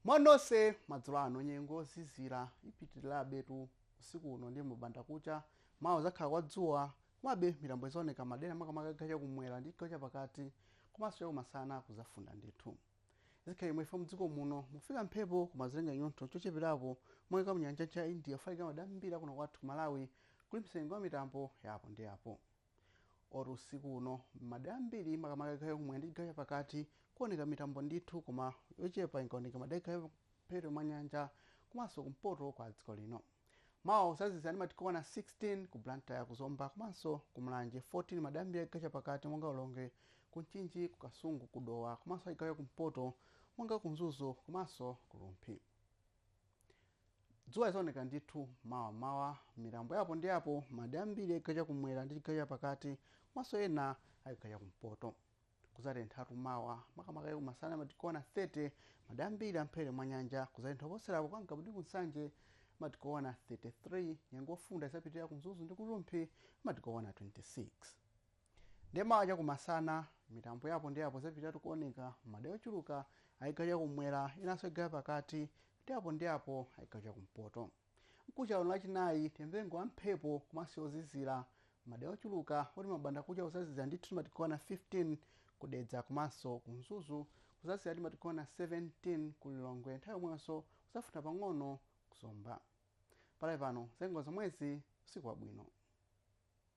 mwanonse madzulo ano nyengo yozizira ipitirirabetu usiku uno ndi m'banda kucha mawa kuzakhala kwa dzuwa komabe mitambo izaoneka madera makamaka a chigawo cha kumwera ndi chigawo cha pakati komanso chakumasana kuzafunda ndithu Zikhala chomwechi chifukwa mdziko muno mufika mphepo koma zilenga chinyontho chocheperapo kuchokera mnyanja yamchere ya India kufalikira madera ambiri a kuno kwathu ku Malawi kulimbikitsa nyengo ya mitambo ya apo ndi apo. Moti usiku uno m'madera ambiri makamaka a chigawo chakumwera ndi chigawo chapakati kuoneka mitambo ndithu koma yochepa ingaoneke madera a m'mphepete mwa nyanja komanso kumpoto kwa dziko lino. Mawa kuzazizira ndi madigiri okwana 16 ku Blantyre, ku Zomba komanso ku Mulanje, 14 madera ambiri achigawo chapakati monga ku Lilongwe, ku Mchinji, ku Kasungu, ku Dowa komanso achigawo chakumpoto monga ku Mzuzu komanso ku Rumphi. Dzuwa lidzaoneka ndithu mawa m'mawa mitambo ya apo ndi apo m'madera ambiri achigawo chakumwera ndi chigawo chapakati komanso ena achigawo chakumpoto. Kuzatenthatu mawa makamaka chakumasana madigiri okwana 30 madera ambiri a m'mphepete mwa nyanja kuzatentha kuposerapo kwa Ngabu ndi ku Nsanje madigiri okwana 33 nyengo yofunda izapitirira ku Mzuzu ndi ku Rumphi madigiri okwana 26 ndiye mawa cha kumasana mitambo ya apo ndi apo izapitiratu kuoneka madera ochuluka a chigawo cha kumwera enanso a chigawo chapakati ndi apo ndi apo a chigawo cha kumpoto Mkucha uno lachinayi tiyembekezere nyengo ya mphepo komanso yozizira m'madera ochuluka moti m'banda kucha kuzazizira ndithu ndi madigiri okwana 15 ku Dedza komanso ku Mzuzu kuzazizira ndi madigiri okwana 17 ku Lilongwe nthawi yomweyonso kuzafunda pang'ono ku Zomba. Pakali pano zanyengo nzomwezi usiku wabwino.